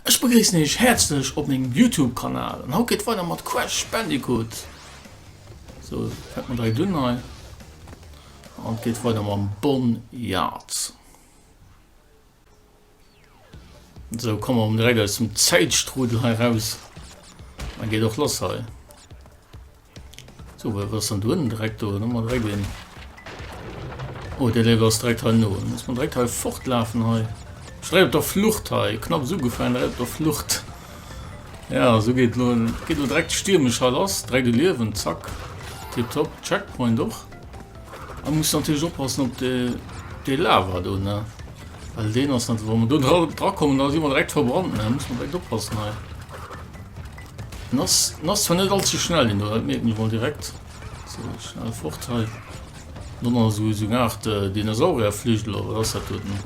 Ech begréissen Iech häerzlech op mengem Youtube Kanal an haut geet et weider mat Crash Bandicoot. Sou, fänkt mat direkt un hei an et geet weider mam Bon Yard. So komme mer um direkt aus dem Zäitstrudel hei raus. Dann geet och lass hei. So wat ass dann do ënnen direkt do? Dann man direkt een. Oh de Level ass direkt hei no. Muss man direkt hei fortlafen hei. Direkt op der Flucht hei. Knapp so gefallen direkt op der Flucht. Ja so geht lo geht lo direkt stiermesch hei lass. Direkt de Liewen zack. Tipptopp. Checkpoint och. An muss natierlech oppassen op dee Lava do, ne? Well deen ass net, wann mer do dra drakommen, da si mer direkt verbrannt, ne? Muss mer direkt oppassen hei. Den ass, den ass zwar net allzu schnell, den do, dat merkt mir mal direkt. So, schnell fort hei. Dann ass so, so eine Art äh, Dinosaurierflügel, oder was hat dat denn?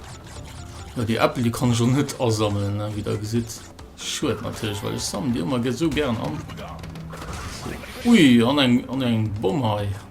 Ja, die Äppel, die kann ich schon net asammeln, ne? wie der gesieht. Schued natürlich, weil ich sammle die immer so gern an. So. Ui, an eng, an eng Bomm hei.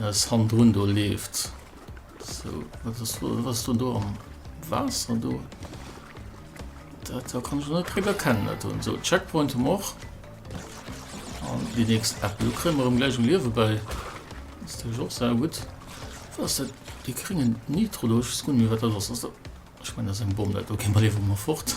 Ass hannendrun do leeft sou wat ass do was do do am Waasser do? Dat da kann ech net drüber kennen dat do so Checkpoint um och an die nächst App du krimmer um gleich um Liewe bei ist du och sehr gut was dat die kringen Nitro do ich kun mir wat dat ass ass dat ich mein ass eng Bomm dat do gehen wir liewe mer fort.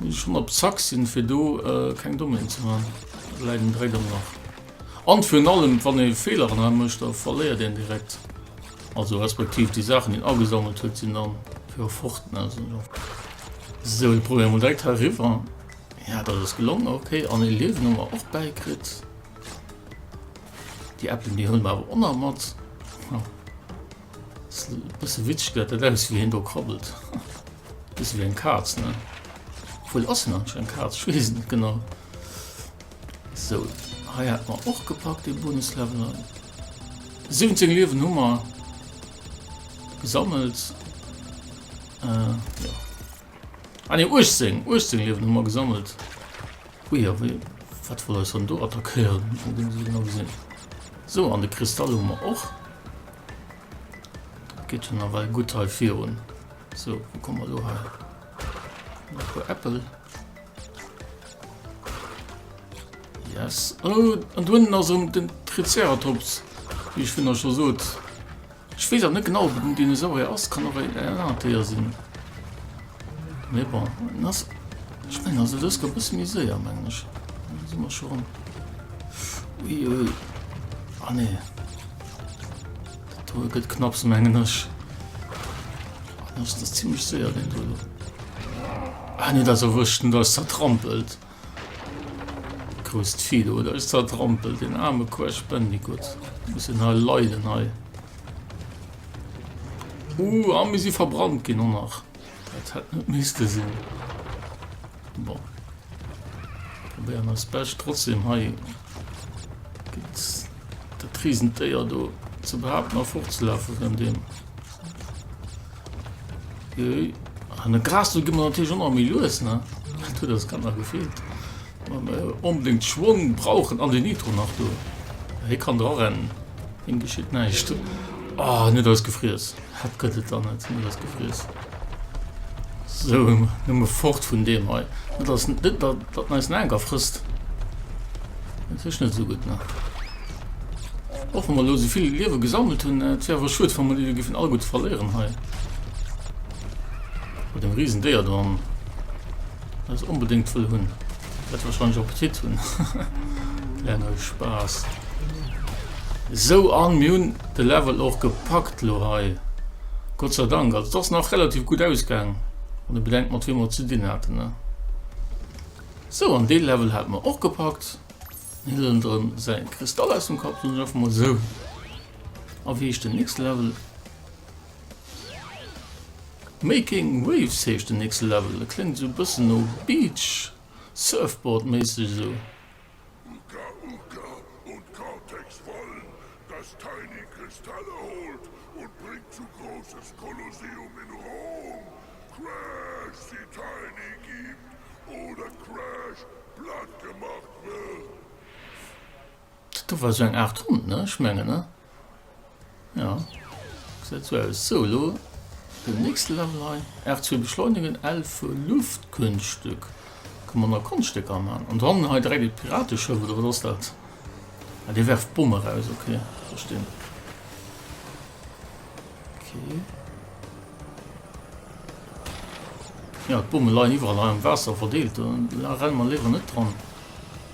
Muss ech schon op Zack sinn fir do keng Dommien ze man? Et bleiwen 3 dann nach. An virun allem wann ee Feeler an hei mécht da verléiert een direkt. Also respektiv déi Saachen déi en agesammelt huet sinn dann fir e fort. Sou ech probéieren mol direkt hei eriwwer. Jo dat ass gelongen ok. An ee Liewen hu mer och bäi kritt. Déi Äppelen déi huelen mer awer och nach mat. Ass e bësse witzeg dat dat ausgesäit wéi een do krabbelt. Bis ewéi eng Kaz, ne? Wuel ass en anscheinend eng Kaz, ech weess et net genau. Sou, hei hat mer och gepackt dee Bonuslevel hei. 17 Liewen hu mer gesammelt. Äh, jo. Ah ne, 18, 18 Liewen hu mer gesammelt. Ui, a wéi, wat wollt eis dann do attackéieren? Muss mer dee sou genau gesinn. Sou, an de Kristall hu mer och. Geet jo nawell gutt hei virun. So wo komme mer lo hei? Nach puer Äppel. Yes. Oh, an dunnen ass um den Triceratops, wie ich vun der schon sot. Ich wees net genau ob den Dinosaurier ass kann och en Anatheier sinn. Nee, bon. Das, ich mein, also das kommt bisschen miséier mengg. Sind wir schon. Ui, ui. Ah nee. D'Tour gëtt knapps, mengen ech. Ah, das ist ziemlich sehr, den Tour. Ah, nee, das erwüschten, das zertrampelt. Grüßt viel, oder? Ist zertrampelt, den arme Crash Bandicoot. Muss den halt leiden, halt. Uh, ah, wir sind verbrannt, genau noch. Das hat nicht müsste sein. Bon, probéieren eis Bescht. Trotzdem, hei geet dat riesent Déier do ze behaupten a fortzelafe vun deem. Jee, an de Gras do gi mer natierlech ëmmer méi lues, ne? Dat huet eis Kanner gefeelt. Wa mer onbedéngt Schwong brauchen an den Nitro nach do. Hie kann dra rennen, him geschitt näischt. Ah, en huet eis gefriess. Hat gëtt et der net, hunn ech gefriess. Sou, nëmme fort vun deem hei. Et ass net, datt en eis en Anker frësst. Dat heescht net esou gutt, ne? Och wa mer elo esou vill Liewe gesammelt hunn, et wär awer schued, wa mer déi elo géifen alleguerte verléieren hei. Mat deem Risendéier do am. Muss onbedéngt wuel hunn, wäert wahrscheinlech och Appetit hunn. Lär no Spaass. Sou an mir hunn de Level och gepackt lo hei. Gott sei Dank, also et ass nach relativ gutt ausgaang, wann ee bedenkt mat wiem mer et ze dinn haten ne. Sou an dee Level hate mer och gepackt. Mir huelen de rëm säi Kristall aus dem Kapp, soen ech einfach mol sou. A wéi heescht den nächste Level? Making Waves heescht den nächste Level, e kléngt esou e bëssen no Beach Surfboard méisseg esou. Uka Uka und Cortex wollen, dass Tiny Kristalle holt und bringt zu großes Kolosseum in Rom. Crash sie Tiny gibt oder Crash platt gemacht wird. Dat do war sou eng Art Hond, ne? Ech mengen, ne? Jo. Gesäit sou aus. Sou, elo den nächste Level hei. R2 beschleunigen, L fir Luftkunststück. Ka mer nach Konststéck amaan. An dann hei direkt e Pirateschëff, oder wat ass dat? Ah, dee werft Bomme raus, okay. Verstinn. Okay. Ja, d'Bomme leien iwwerall hei am Waasser verdeelt. Da renne mer léiwer net dran.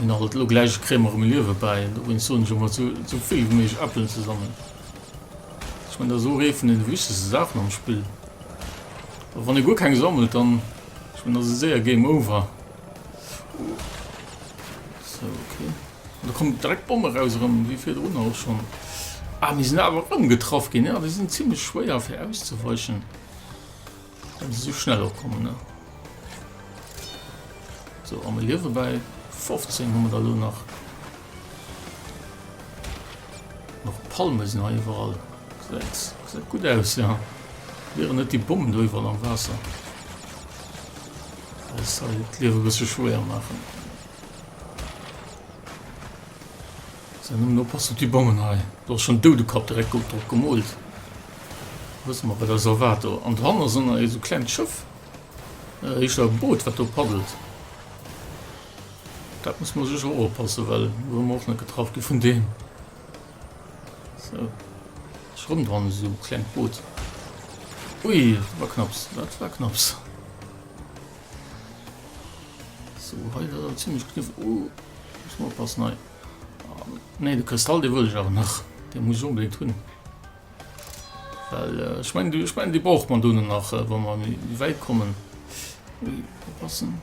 Hun alt elo gläich e Krämer um Liewe bäi, dowéinst soen ech emmer sou vill wéi méiglech Äppelen ze sammeln. Ech mengen dat ass och ee vun den wichtegsten Saachen am Spill. Wa wann ee guer keng sammelt, dann ech mengen ass et séier Game Over. So, okay. Da kommt direkt d'Bomme raus erëm, wéi virdrun och schon. Ah, mir sinn awer ëmgetraff ginn. Ja, déi sinn zimlech schwéier fir auszeweichen. Wann se sou schnell och kommen, ne? So, a mir liewe bei 15 hu da lo nach. Noch Palme sinn hei iwwerall. Säit gut aus, ja. Wieren net déi Bommen do iwwerall am Waasser. Das soll d'Liewe bësse schwéier maachen. Säin Numm no passt op déi Bongen hei. Do ass schonn e Doudekapp direkt gold drop gemoolt. Da wësse mer, wat eis erwaart do. An dohanner ass ënner esou klengt Schëff, heescht dat e Boot, wat do paddelt. Dat musse mer sécher och oppassen, well do wëlle mer och net getraff gi vun deem. Sou, et ass erëm dran, esou e klengt Boot. Ui, dat war knapps, dat war knapps. Sou, hei, dat ass awer zimlech kniff. Hu, muss mer oppassen hei. Nee, de Kristall dee wëll ech awer nach. Dee muss ech onbedéngt hunn. Well ech meng ech meng déi brauch man dono nach wa mer méi wäit kommen. Ui oppassen.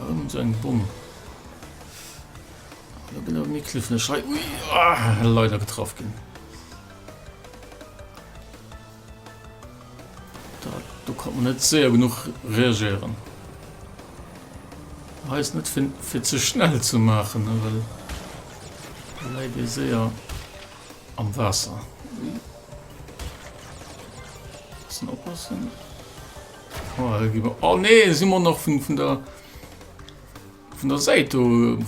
Ëm seng Bomm. Da gëtt awer méi klifflech hei. Ui leider getraff ginn. Do konnt mer net séier genuch reagéieren. Hei ass net fir ze schnell ze maachen, well da läit ee séier am Waasser. Mussen oppassen. Oh nee, si mer nach vun der... Vun der Säit do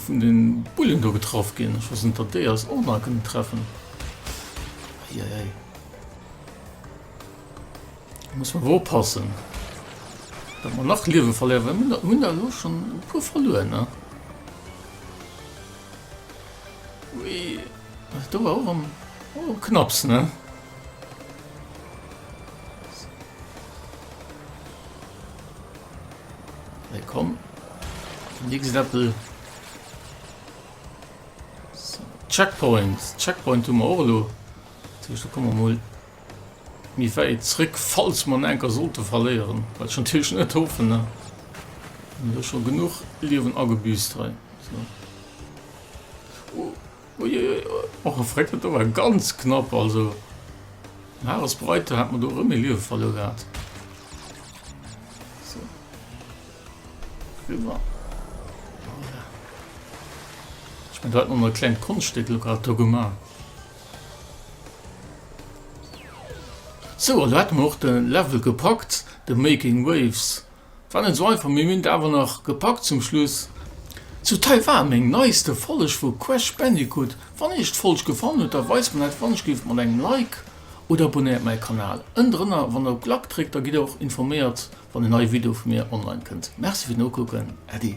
vun den Bullen do getraff gin. Ech wees net dat déi eis och nach kënnen treffen. Eieiei. Do muss mer awer oppassen dat mer nach Liewe verléieren well mir hun der elo schon e puer verluer ne. Ui dat do war och am och knapps ne. Hey, komm. Nächsten Appel. Checkpoint. Checkpoint tun wir auch lo. Da kommen wir mal mir weit zurück, falls man enker sollte verlieren. Weil schon natürlich nicht hoffen, ne? Wir haben schon genug Leben angebüßt. So. Uiuiui, och e Fréckelt, do war ganz knapp, also den Harris Breiter hat mer do erëm ee Liewe verluer gehat. So. Riwwer. Voilà. Ech mein, do hat mer mol e klengt Konschtstück lo grad do gemaach. So, an do hätte mer och de Level gepackt, de Making Waves. War net sou einfach, mee mir hunn et awer nach gepackt zum Schluss. Zu Taiwan, meng neiste Folg vu Crash Bandicoot. Wann iech d'Folg gefallen huet, da weist mer dat wannechgelift mat engem Like oder abonnéiert mäi Kanal. Ënnendrënner wann der op Glackt dréckt, da gitt der och informéiert wann en neie Video vu mir online kënnt. Merci fir d'Nokucken, Äddi.